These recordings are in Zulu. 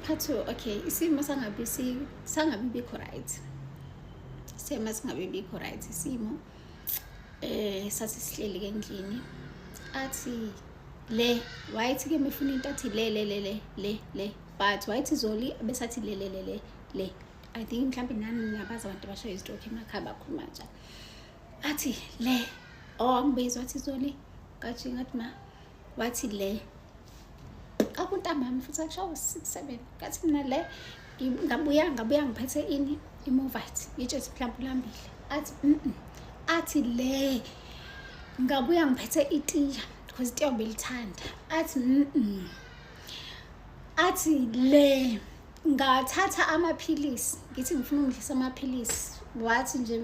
part two okay isimo sangabi sangabi bikho right sema singabi bikho right isimo eh sasisihleli ke endlini athi le wayethi ke mifuna into athi le le le le le le but wayethi zoli besathi le le le le le i think mhlawumbe nani niyabazi abantu abasho izitrokhi emakhaya bakhuluma njalo athi le oh angibizwa athi zoli kajinga athi ma wathi le akuntambami futhi akushawa six seven kathi mina le ngabuya ngabuya ngiphethe ini imovite yitshesi mhlawumbe ulambile athi athi le ngabuya ngiphethe itiya because itiya ubelithanda athi athi le ngathatha amaphilisi ngithi ngifuna ukudlisa amaphilisi wathi nje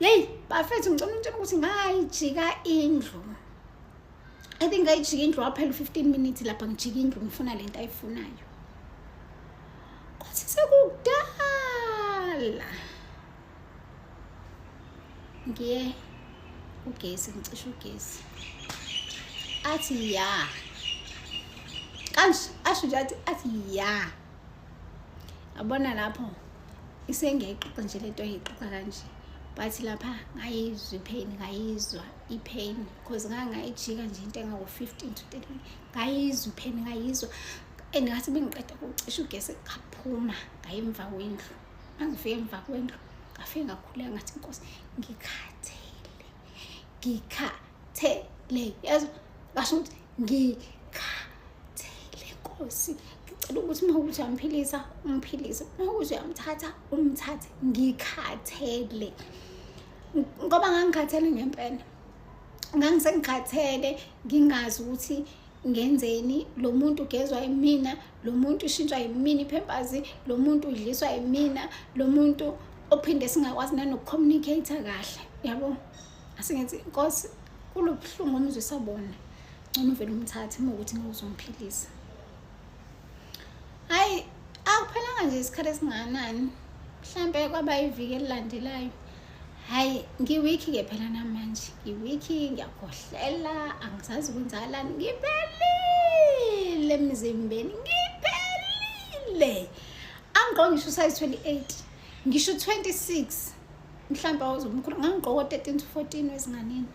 yeyi bafethu ngicela untshela ukuthi ngayijika indlu i think ngayijika indlu waphela u-fifteen minutes lapha ngijika indlu ngifuna le nto ayifunayo kwathi sekudala ngiye ugesi ngicishe ugesi athi ya kanje asho nje athi athi ya abona lapho isengiyayixoxa nje lento ayixoxa kanje but lapha ngayizwa ipain ngayizwa ipain because ngangayijika nje into engawo-fifteen to thirty ngayizwa ipain ngayizwa and ngathi bengiqeda kucisha ugesi ngaphuma ngaye emva kwendlu mangifike emva kwendlu ngafike ngakhuleka ngathi inkosi ngikhathele ngikhathele yazi basho ukuthi ngikhathele nkosi ngicela ukuthi uma ukuthi uyamphilisa umphilise uma ukuthi uyamthatha umthathe ngikhathele ngoba ngangikhathele ngempela ngangisengikhathele ngingazi ukuthi ngenzeni lo muntu ugezwa yimina lo muntu ushintshwa yimina iphempasi lo muntu udliswa yimina lo muntu ophinde singakwazi nanokukhomunikhatha kahle yabo asingenzi nkosi kulobuhlungu omzwisa bona ngcono uvele umthathe uma ukuthi ngizomphilisa hayi akuphelanga nje isikhathi esingakanani mhlampe kwaba iviki elilandelayo hayi ngiwiki ke phela namanje ngiwiki ngiyakhohlela angisazi kwenzakalani ngiphelile emzimbeni ngiphelile angigqoke ngisho usayizi 28 ngisho 26 mhlawumbe awuzomkhulu ngangigqoke o-13 to 14 wezinganeni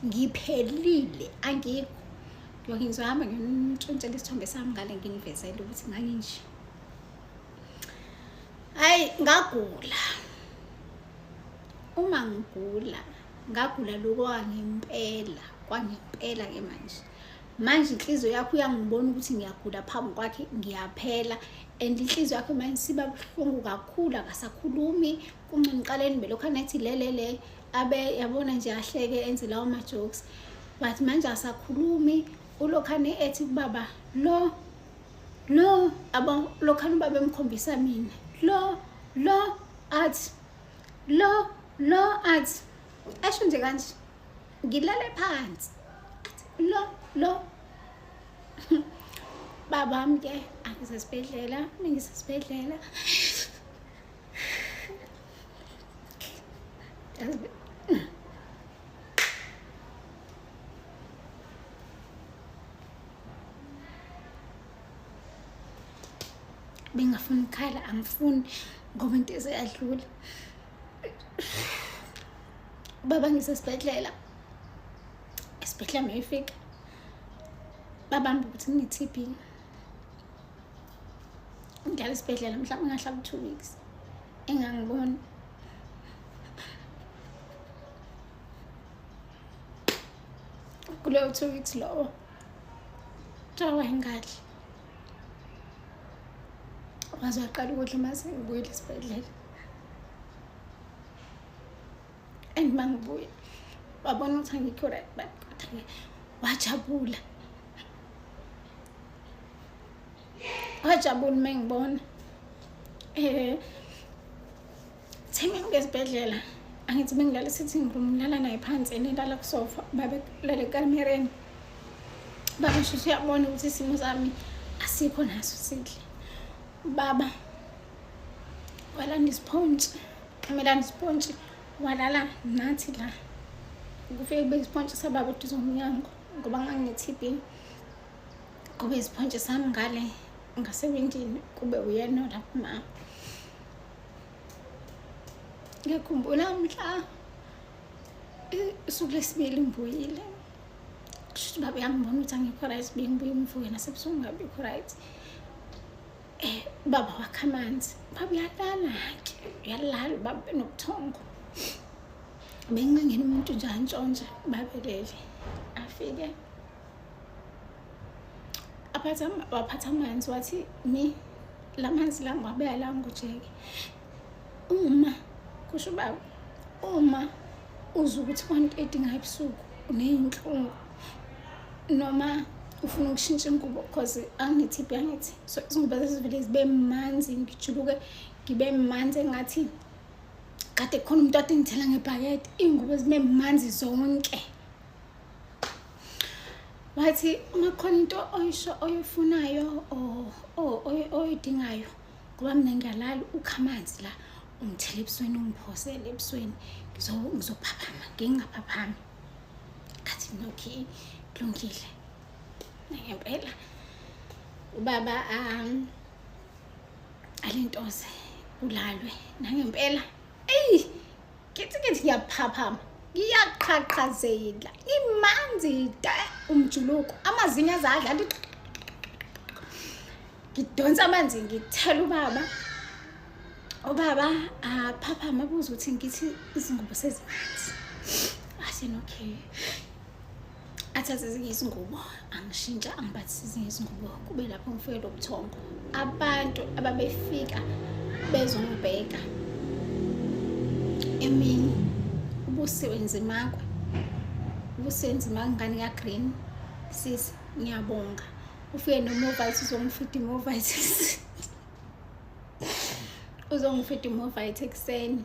ngiphelile angikho yoke ngizohamba ngimtshontshela isithombe sami ngale nginivezele ukuthi nganginje hayi ngagula uma ngigula ngagula lokho angempela kwangempela ke manje manje inhliziyo yakho uyangibona ukuthi ngiyagula phambi kwakhe ngiyaphela and inhliziyo yakho manje siba buhlungu kakhulu akasakhulumi kungcono uqale nibe lokhu anathi lelele abe yabona nje ahleke enze lawo ma-jokes but manje asakhulumi ulokhane ethi kubaba lo lo abo lokhana ubaba emkhombisa mina lo lo athi lo lo athi esho nje kanje ngilale phansi lo lo babam ke angisesibhedlela mengisesibhedlela bengafuni ukukhala angifuni ngoba into ezeyadlula baba ngisesibhedlela esibhedlela mayifika babamba ukuthi ngine-tb ngihlala esibhedlela mhlawumbe ngahlala u-two weeks engangiboni kuleyo two weeks lowo Cha wayingadli. Waze waqala ukudla uma sengibuyile esibhedlela. And uma ngibuya wabona ukuthi angikho right but kodwa-ke wajabula. Wajabula uma engibona. Eh Thi mina ngezibhedlela angithi bengilala sitting room ngilala naye phansi and elala kusofa babelale ekamereni baba shushu uyabona ukuthi isimo sami asikho naso sihle baba walanda isipontshi amelanda isipontshi walala nathi la kufike kube isipontshi sababa uduze umnyango ngoba nganginethb kube isipontshi sami ngale ngasewindini kube uyena olapho mama ngiyakhumbula mhla usuku lesibili ngibuyile kusho ukuthi baba uyangibona ukuthi angikho right bengibuye ngivuke nasebusuku ngabikho right um baba wakho amanzi baba uyalala-ke uyalala ubaba benobuthongo bengincengeni umuntu nje antshontsha babelele afike aphatha waphatha amanzi wathi mi la manzi la ngiwabeka la ngujeke uma kusho ubaba uma uzwa ukuthi one thirty ngabusuku uneyinhlungu noma ufuna ukushintsha ingubo cause angithi byangithi so izingubo zezivele zibe manzi ngijuluke ngibe manzi engathi kade khona umuntu ade ngithela ngebhakede iy'ngubo zibe manzi zonke wathi uma khona into oyisho oyifunayo oyidingayo ngoba mina ngiyalala ukha amanzi la ungithele ebusweni ungiphosele ebusweni ngizophaphama ngingaphaphami khathi mina okay kulungile ngempela ubaba um alintoze kulalwe nangempela eyi kithi kithi ngiyaphaphama ngiyaqhaqhazela imanzi te umjuluko amazinyo azadla nti ngidonsa amanzi ngithela ubaba ubaba aphaphama abuza ukuthi ngithi izingubo sezimanzi asenokay athathe ezinye izingubo angishintsha angiphathise ezinye izingubo kube lapho ngifike lo buthongo abantu ababefika bezongibheka emini ubusiwe nzimakwe ubusiwe nzimakwe ngane kagreen sis ngiyabonga ufike nomovite uzongifida imovite uzongifida imovite ekuseni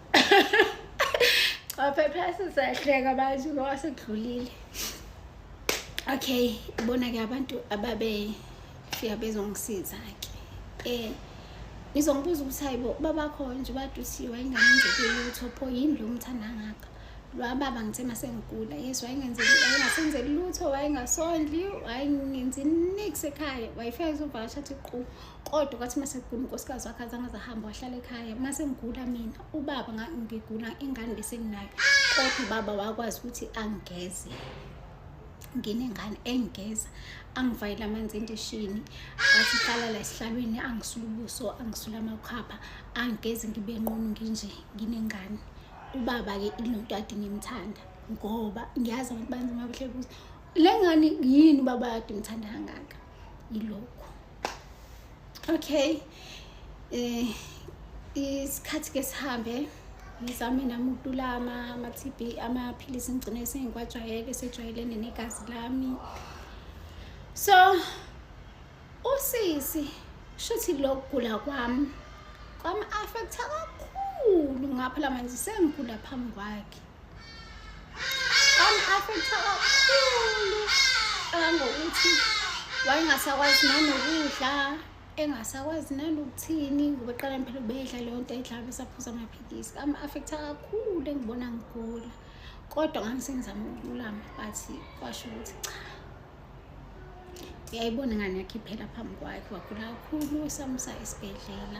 waphephesa sahleka bathi ngoba sekudlulile okay ibona-ke abantu ababefika bezongisiza-ke um ngizongibuza ukuthi hayi bo babakho nje badusiwe ayingangenzekeli lutho pho yini lo mthanda ngaka lwababa ngithe uma sengigula yes wayengasenzeli lutho wayengasondli wayengenzi nix ekhaya wayefika ezovakasha athi qu kodwa kwathi uma sekugula unkosikazi wakhe azange zahamba wahlala ekhaya uma sengigula mina ubaba ngigula ingane besenginayo kodwa ubaba wakwazi ukuthi angigeze nginengane engigeza angivayele amanzi endishini asihlala la esihlalweni angisula ubuso angisula amakhapha angigezi ngibe nqunu nginje nginengane ubaba-ke ilonto ade ngimthanda ngoba ngiyazi abantu banzima buhle buze le ngane yini ubaba ade ngimthanda kangaka ilokho okay eh isikhathi ke sihambe ngizame nami ukutula ama-tb amaphilisi ngigcine sengikwajwayele sejwayelene negazi lami so usisi shuthi lokugula kwami kwami-affektha kakhulu ngapha la manje sengigula phambi kwakhe Am-affektha kakhulu kangangokuthi wayengasakwazi nanokudla engasakwazi nanokuthini ngoba eqala phela ubedla leyo nto ayidlala besaphuza amaphilisi am-affektha kakhulu engibona ngigula kodwa ngangisengizama ukululama but kwasho ukuthi cha uyayibona ingane yakhe iphela phambi kwakhe wagula kakhulu samusa esibhedlela